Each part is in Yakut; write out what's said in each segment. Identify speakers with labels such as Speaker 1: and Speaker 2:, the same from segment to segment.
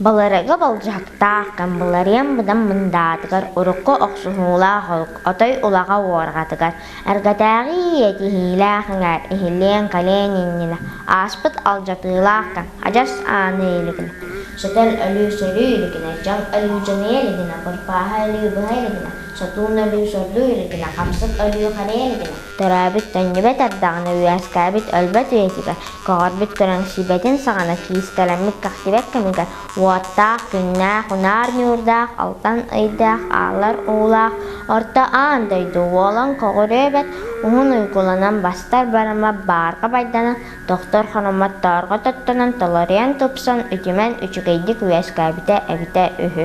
Speaker 1: Былыргы былдьаһыктаах Камбыларыам быдам мындаатыгар урукку охсуһуулаах холк отой улаҕа уорҕатыгар, эргэтээҕи иэтиһиилээх иҥэр иһиллиэн калиэн иннинэ ааспыт алдьатыылаахтан адьас ааны илигинэ, сөтөл өлүү сөрүү илигинэ, дьал өлүү дьаныйа илигинэ, бырпааһа өлүү быһа илигинэ сотуун өлүү сордуу илитинэ, хамсык өлүү харыйа илитинэ, торообүт төннүбэт ардаҕына үөскээбит өлбөт үйэтигэр, көҕөрбүт көрөн сибэтин саҕана киистэлэммит кэхсибэт кэмигэр уоттаах, күннээх, унаар ньуурдаах, алтан ыйдаах, аалар уулаах Орто Аан дойду уолан көҕүрүөбэт уһун уйгуланан бастар барыма баарга байданан тохтор хономмот тоорго тоттонон толоруйан тупсан үтүмэн үчүгэйдик үөскээбитэ эбитэ үһү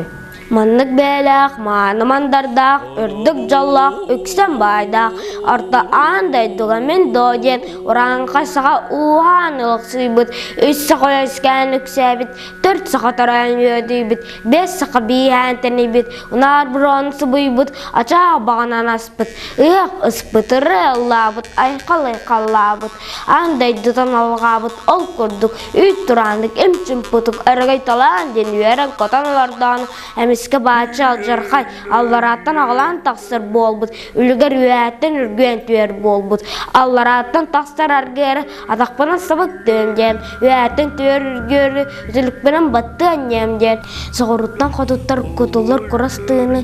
Speaker 1: Маннык бэйэлээх, мааны мандардаах, үрдүк дьоллоох, үксүн баайдаах Орто Аан дойдуга мин доо диэн урааҥхай саха ууһаан ылыксыйбыт, үс саха үөскээн үксээбит, төрүт саха тороойун үөдүйбүт, бэс саха бииһээн тэнийбит, унаар броон субуйбут, ачаах баҕанан аспыт, ыһыах ыспыт, ырыа ыллаабыт, айхал-айхаллаабыт Аан дойдутан алҕаабыт ол курдук үүт турааннык им-чымпытык өрөгөй талаан диэн үөрэн-көтөн олордоҕун эмискэ бааччы алдьархай алларааттан аҕылаан тахсар буолбут үлүгэр үөһэттэн үргүөн түһэр буолбут алларааттан тахсар аргыары атахпынан сабык түөм диэн үөһэттэн түһэр үргүөрү үзүлүкпэнэн баттыан диэм диэн соҕуруттан хотуттар кутуллар курас тыыны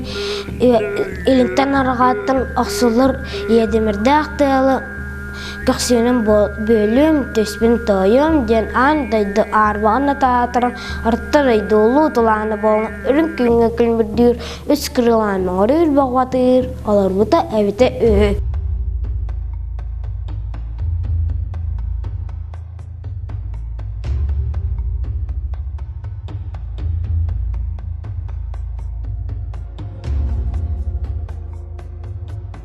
Speaker 1: илинтэн арҕааттан охсуллар иэдимирдээх тыалы Көхсүөнүм бөһүлүөм, түспүн тоойуом диэн аан дойду аарбаҕын натаатаран орто дойду улуу тулаана буолан үрүҥ күҥҥэ күлүмүрдүүр үс кырыылаан мөҕүрүүр бөҕөҕүтүр олорбута эбитэ үһү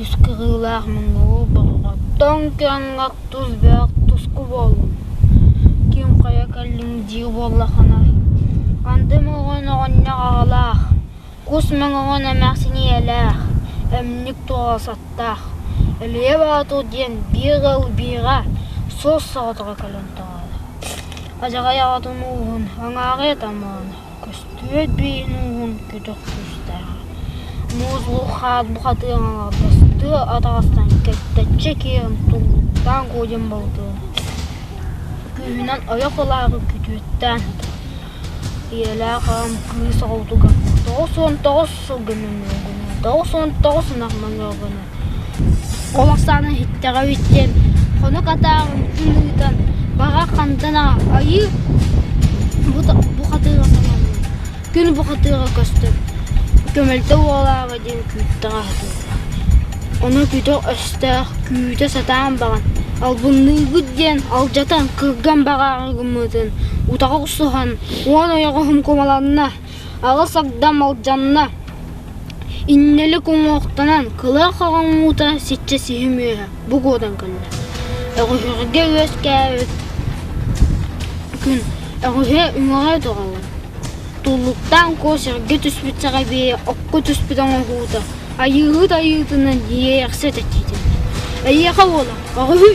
Speaker 1: Үс кыһыылаах муҥнуу боҕоҕоттон кыаҥах тус бөҕөх туску буоллум, ким хайа кэллиҥ дии буоллаххына, андым оҕон оҕонньор аҕалаах, кус мөҥөҕүн эмэхсин ийэлээх, эмньик туоҕасаттаах, Өлүйэ Боотур диэн биир ыал биэҕэ суос соҕотоҕо кэлэн тоҕооро, адьаҕай аҕатын ууһун, аҥаара ытамаана Көстүбэт биин-ууһун көтөх тустаах, муус бук-хаат бухатыан аҥардастыы атаҕастан кэппэччэ киирэн туллуктаан кодьон балытыан, күүһүнэн ойох ылаары күтүөттээн, ийэлээх аҕам кыыс оҕотугар тоҕус уон тоҕус сылга мөҥүргүнэ, тоҕус уон тоҕус ынах мөҥүргүнэ Ол ахсаана иһиттэҕэ үһүс диэн, хонук атааҕын ыытан баҕа хантан айыы бу хатыыга сананным, күн бу хатыыга көстөр, көмөлтө уолаабай диэн күүттэҕэ сатыыллар, ону күтүк өстөөх күүтэ сатаан баҕан албынныыгыт диэн алдьатан кырган баҕаҕын гыммытын утаҕы охсуһан уон ойоҕоһум кумаланна Аҕыс Агдам Алдьанна Иннэлик уҥуохтанан кылаах хаҕаҥҥуута сиччэ сиһи мүөһэ бу куотан кэллэ Өҕүһүргэ үөскээбит күн өҕүһэ үҥэҕэ тоҕоллон Туллуктаан Куо сэргэ түспүт саҕабиэйэ окко түспүт оҥоһуута Айыыһыт айыытынан иэйэхсэ чэчиитиннэ Эйиэхэ уола өҕүһүй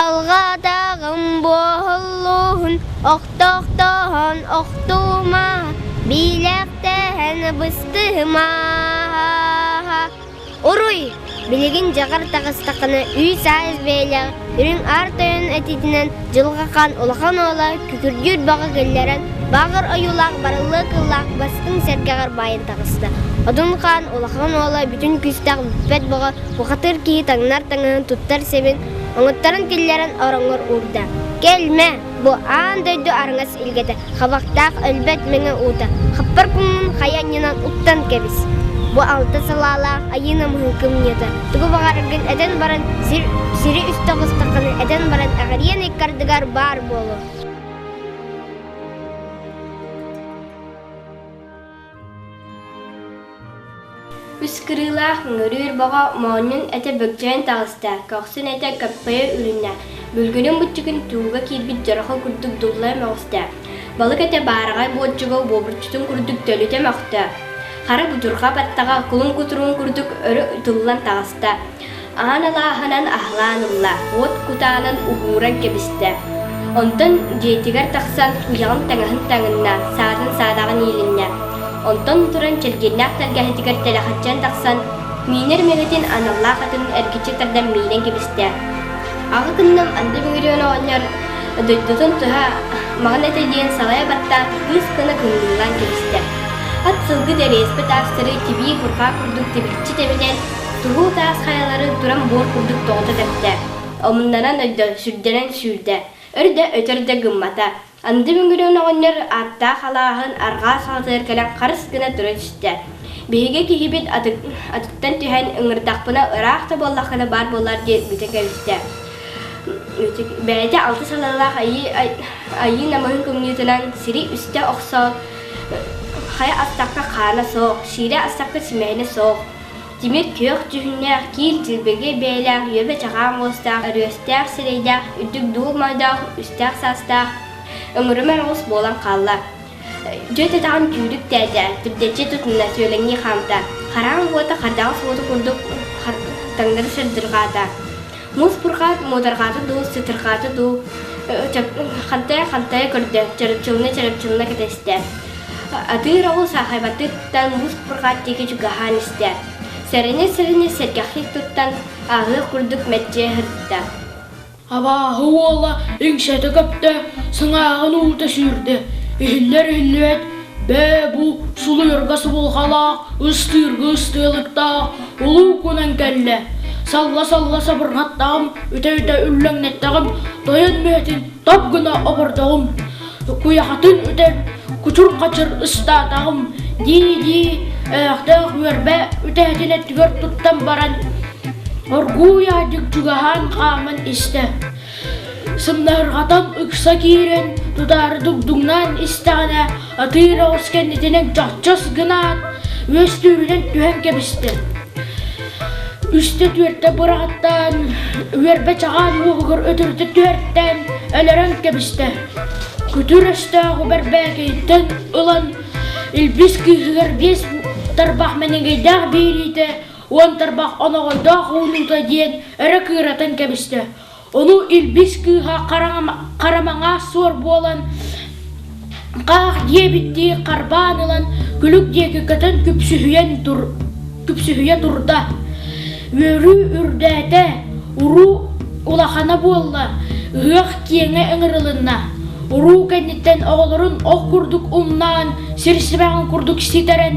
Speaker 1: Алҕаатаҕым бу оһоллууһун охтохтоон охтуума, биилэхтээн быстыһыма. Уруй! Билигин дьаҕар таҕыстаххына үс-аайыс бэйэлээх үрүҥ аар тойон этиитинэн дьылҕахан улахан уола күкүрдүүр баҕа киллэрэн бааҕыр ойуулаах барыллыа кыллаах бастыҥ сэргэҕэр баайан таҕыста. Одун Хаан улахан уола бүтүн күүстээх бүппэт бөҕө бухатыыр киһи таҥнар таҥаһын туттар сэбин Омуттарын тиллэрэн ороҥҥор уурда. «Кэлмэ! Бу аан дойду араҥас илгэтэ, хабахтаах өлбөт мэҥэ уута, хаппар куммун хайа анньынан уктан кэбис! Бу алта салаалаах айыы намыһыҥкы мунньата, тугу баҕараргын этэн баран, сир, сири үстэ оҕустаххына этэн баран эҕирийэн ыккардыгар баар буолуо!» Үс кырыылаах ыҥырыыр бөҕө моонньун этэ бөкчөйөн таҕыста, көхсүн этэ кэппэйэ үрүннэ, бүлгүнүн буччукун тууга киирбит дьарахы курдук дуллайа мөҕүстэ. Балык этэ баараҕай буоччуга буобурчутун курдук төлүтэ мөхтө. Хара будурҕа баттаҕа кулун кутуруун курдук өрө ытыллан таҕыста. аһан алааһынан аһылаан ылла, уот кутаанын уһууран кэбистэ. Онтон дьиэтигэр тахсан уйаҕын таҥаһын таҥынна, саатын саадаҕын иилиннэ. Онтон туран кэргэннээх тэлгэһэтигэр тэлэхаччыйан тахсан, миинэр мэлэтин аналлаах атын эргиччи тардан миинэн кэбистэ. Аҕа кынным Анды Мигрион оҕонньор дойдутун туһа маҕан этэ диэн салайа баттаан кыыс кына кыҥыыллаан кэбистэ. Ат сылгы дэриэспэ таастары тибии бурҕаа курдук тибирчи тэбинэн Туһуу таас хайалары туран буор курдук тоҕута тэптэ. Омуннанан өйдөн, сүрдэнэн сүүрдэ. Өр да, өтөр да гыммата. Андыы Мөҥүрүөн оҕонньор ааттаах алааһын арҕаа саҕатыгар кэлэн харыс гына туран истэ. Биһиги киһибит атыттан түһэн, ыҥырдахпына ыраах да буоллаххына баар буоллар диэн бүтэ кэбистэ. Бэйэтэ алта салалаах айыы намыһын кымньыытынан сири үстэ охсоот, хайа астакка хаана суох, сиирэ астакка симэһинэ суох, Тимир күөх дьүһүннээх, киин дьилбэгэ бэйэлээх үөбэ-чаҕаан уостаах, өрүөстээх сирэйдээх, үрдүк дуу мойдоох, үстээх саастаах, өҥүрүмэр оҕус буолан хаалла. Дьэ өтөҕүн түүрүктээтэ, түбдэччи тутунна, сүөлэҥнии хаамта. Хараан уота хардаҕас уоту курдук таҥнары сырдырҕаата. муус-бурҕаат муударҕаата дуу сытырҕаата дуу хантайа хантайа көрдө чарапчылына чарапчылына кэтэстэ атыыр оҕул саахайбатыттан муус-бурҕаат диэки чугаһаан истэ сэрэнэ-сэрэнэ сэргэхтик туттан ааһыах курдук мэччиэ сырытта абааһы уола иҥсэтэ көптө сыҥааҕын уута сүүрдэ иһиллэр иһиллибэт Бээ, бу сулуйарга субулҕалаах, ыстыырга ыстыалыктаах улуу кунан кэллэ. Салга-салга сабырҕаттаҕым, үтэ-үтэ үллэҥнэттэҕим, тойон мүөтүн топ гына обордоҕум. Куйахатын үтэн кучур-хачыр ыстаатаҕым, дии-дии эһэхтээх үөрбэ үтэһэтин өттүгэр туттан баран, оргууй аадьык чугаһаан хааман истэ. Сымнаһырҕатан ыкса киирэн, тутаары дугдуҥнаан истэҕинэ, атыыра ос кэннитинэн чахчас гынаат, үөстүүрүнэн түһэн кэбистэ. Үстэ түөртэ быраҕаттаан, үөрбэ чаҕаан уоһугар өтөрүтэ түһэртээн, өлөрөн кэбистэ. Күтүр өстөөх бэрбээкэйиттэн ылан, илбис кыыһыгар биэс тарбах мэнигэйдээх биэриитэ уон тарбах оноҕойдоох уунуута диэн өрө кыыратан кэбистэ. Ону илбис кыыһа харамаҥа суор буолан хаах диэбиттии харбаан ылан күлүк диэки көтөн күпсүһүйэн тур күпсүһүйэ турда. Үөрүү үрдээтэ, уруу улахана буолла, ыһыах киэҥэ ыҥырылынна. Уруу кэнниттэн оҕолорун ох курдук умнаан, сир сибэҕин курдук ситэрэн,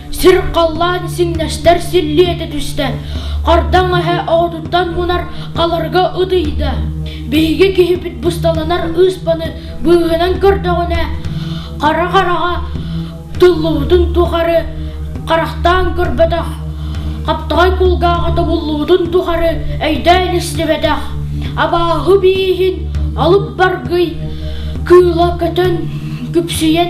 Speaker 1: Сир халлаан сиҥнэстэр силлиэтэ түстэ. Хардаҥ эһэ оҕотуттан мунар халарга ытыйда. Биһиги киһипит бусталанар ыыспаны быыһынан көрдөҕүнэ, хара хараҕа тыллыбытын тухары харахтаан көрбөтөх, хаптаҕай кулгааҕа тобуллубутун тухары өйдөөн истибэтэх, абааһы бииһин алып баргый кыыла көтөн, күпсүйэн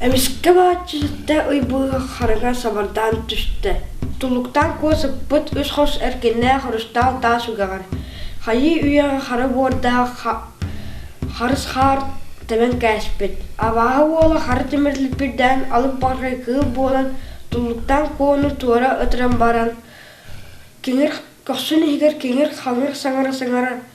Speaker 1: Эмискэ бааччы ситтэ уйбууга харыга сабардаан түстэ. Тулуктаан куо сыппыт үс хос эркиннээх орустаал таас үгэҕэр, хайыы үйэҕэ хара буордаах харыс хаар тэбэн кээспит, абааһы уола хара тимир липпирдээн алып баҕарҕай кыыл буолан тулуктаан куону туора ытыран баран, киҥир көхсүн иһигэр киҥир хаҥыр саҥара-саҥара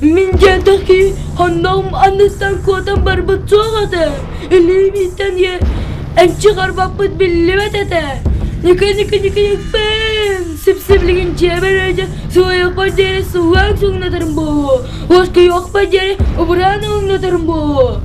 Speaker 1: Мин дьиэдээҕи хонноом анныттан куотан барбыт суох этэ. Илиибиттэн ийэ эмчи харбаппыт биллибэт этэ. Ньыкы-ньыкы-ньыкпэм, сип-сиплигин дьиэбэр өйдө суойахпар диэри суһаан суҥнатарым буолуо. Уоскуйуохпар диэри убураан ылыннатарым буолуо.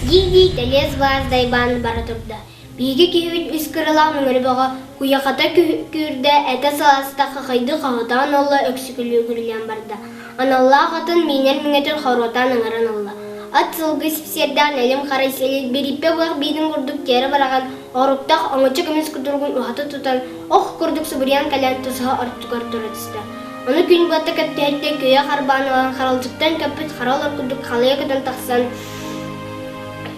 Speaker 1: дии-дии тэлиэс былаас дайбаан бара турда. Биһиги киһибит үс кыралаан үҥүрү бөҕө, куйахата күүрдэ, этэ сыласта, хахыйдыы хаҥатаан ылла, өксүкүлүү-күлүлээн барда. Аналлаах атын миинэр миҥэтин хоруотаан ыҥыран ылла. Ат сылгы сипсиэрдээх нэлим-хара сэлил бирииппэ буйах биитин курдук тиэрэ бараҕан, оруктах оҥочо көмүс кутуругун уһата тутан, ох курдук субуруйан кэлэн тусаһа ортотугар тура түстэ. Ону күн быата кэпсэһиттэн күөйэ харбаан ылан харалдьыттан көппүт хара олор курдук халыйа көтөн тахсан,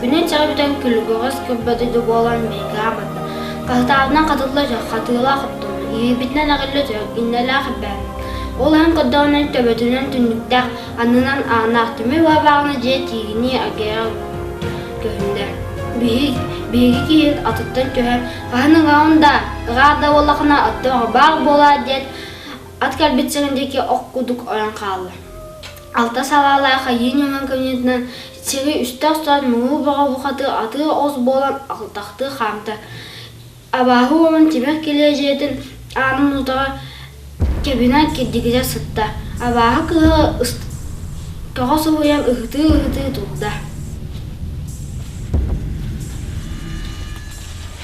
Speaker 1: Күнү чаҕы бүтэн күлүкүгэс күрбэтэ да буолан Миикэҕэ барда. Хаһытаатынан хатылла чох, хатыылаах оттум. Иһиирбитинэн аҕылла чох, иннэлээх элбээбит. Ол иһин көрдөҕүнэн төбөтүнэн түннүктээх, аннынан ааннаах түмүк баабаҕына дьиэ тиигинии агайа көһүннэ. Биһиги биһиги киһи атыттан түһэр, хаһан ыгаҕын да, ыгаах да буоллахына аттыаҕа баар буолаа диэт, ат кэлбит сирин диэки ох кудук ойон хаалла. алта салаалаах айыы ньыман кыһынытынан сири үстэ охсор муҥуу бөҕө бухаты атыы оҕус буолан алтахтыы хаамта абааһы уолун тимир килиэ дьиэтин аанын утаҕа кэбинэ кирдигирэ сытта абааһы кыһа тоҕо соһуйан ыһытыы ыһытыы турда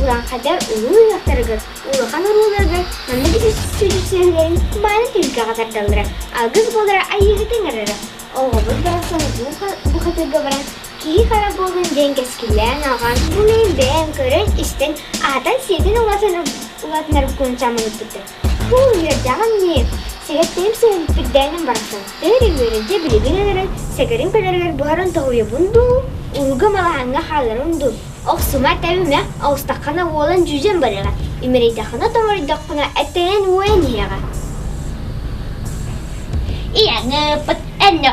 Speaker 1: Урааҥхата улуу уйахтарыгар, улахан оруолларыгар маннык үс сүдүсүһүүлэрин мааны түһүлгэҕэ тардаллара, алгыс буолара айыыһыты ыҥырара. Оҕобут барахсан бу хатырга баран киһи хара буолан диэн кэскиллээн ааҕан, бу мин бэйэм көрөн-истэн, аһатан-сиэтэн улаатынар куун самылыппыттар. Куул үөрдэҕим дии, сэһэттэһим сэһэбиппит дээнин барахсан өр-үмүөрэ дьэ билигин өлөрөн сэгэрин көнөрүгэр буһаран тоһуйабын дуу, ууга малаһаҥҥа хаалларым дуу, охсума тэбимэ, оҕустаххына уолан дьүдьэн барыаҕа, имэрийдэххинэ томоройдоххуна эттэйэн уойан иһиэҕэ. Ийэҥ ыыппыт энньэ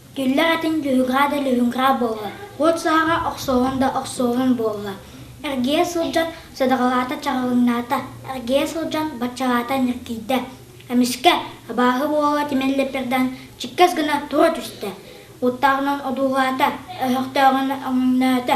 Speaker 1: Киллэр этин дьүһүрҕаа да лүһүҥҕаа буолла, уот саһара охсуһан да охсуһан буолла. Эргийэ сылдьан садаҕалаата чаҕылыҥнаата, эргийэ сылдьан баччалаата ньиргийдэ. Эмискэ абааһы уола тимэллиппэрдээн чиккэс гына тура түстэ, уоттааҕынан одуулаата, өһөхтөөҕүнэн өҥөҥнөөтө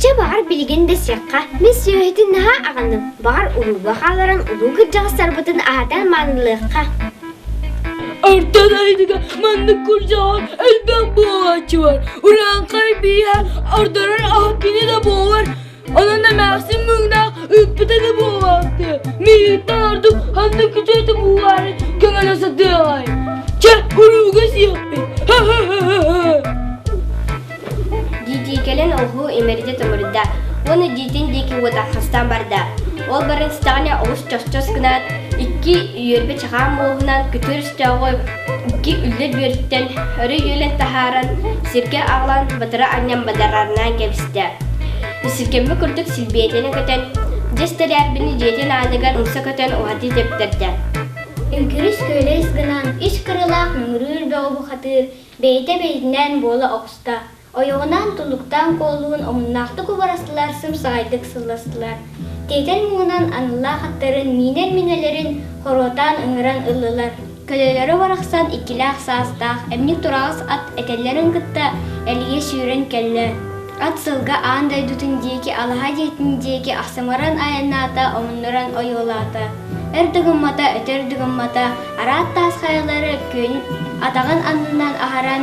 Speaker 1: Чэ баҕар билигин да сиэххэ. Мин сүөһүтүн наһаа аҕыным. Баҕар уруулга хааларын улуу кырдьаҕастарбытын аһатан маанылыахха. Артан айныга маннык курдьаҕар элбэх буолааччы бар. Ураанхай бииһэ ардарар аһа кини да буолар. Онон эмээхсин мыҥнаах ыыппыта да буолбаҕы. Миитэ ордук ханна күтүөтэ буоларын көҥөлө сатыаҕай. Чэ, урууга сиэппит. Дии-дии кэлэн оҕуһу имэрдэ тумурда уонна диитин диэки уотархастан барда. Ол баран истэҕинэ олус чосчос гынаат, икки үөрбэ чаҕаан муоһунан күтүр өстөөҕү Икки үлэ бүөртэн өрө үөлэн таһааран, сиргэ аҕалан батыра анньан бадарарнаан кэбистэ. Сиркэммэ курдук силбиэтэнэ көтөн, дьэс тэлээрбини дьиэтин ааныгар умса көтөн уһатыы тэптэрдэ. Үҥкүрүс күөлэс гынан ис кырылаах мөҥүрүүр бөҕү бухатыыр бэйэтэ бэйэтинээн буола оҕуста. Ойоҕунаан тунуктаан куолуһун омуннаахтык убарастылар, сымсаҕайдык сылластылар. Тиэтэл муҥунан аналлаах аттарын, миинэр-минэлэрин хоруотаан ыҥыран ыллылар. Көлөлөрө барахсан иккилээх саастаах эмньик тураҕас ат этэллэрин кытта элигэ сүүрэн кэллэ. Ат сылга аан дойдутун диэки алаһа дьиэтин диэки ахсымыран айаннаата, омуннуран ойуолаата. Өр да гыммата, өтөр да гыммата, араат таас хайалары күн атаҕын аннынан аһаран,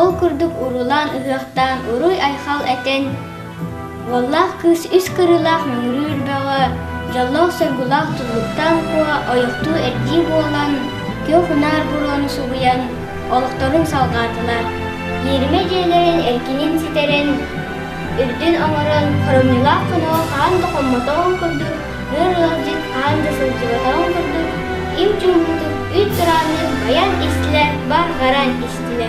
Speaker 1: Ол курдук уруулаан ыһыахтаан уруй-айхал этэн, уоллаах кыыс үс кырыылаах мөҥүрүүр бөҕө, дьоллоох-соргулаах туллуктаах куо ойуктуу эрдии буолан, күөх унаар буруону субуйан, олохторун салҕаатылар. Ньиэримэ дьиэлэрин эркинин ситэрэн, үрдүн оҥорон, хоромньулаах хоноҕо хаһан да хоммотоҕун курдук Өр ыалдьыт хаан да сылдьыбатаҕын курдук, им чуумпутук үүт тураанныыр байаан истилэ барҕаран истилэ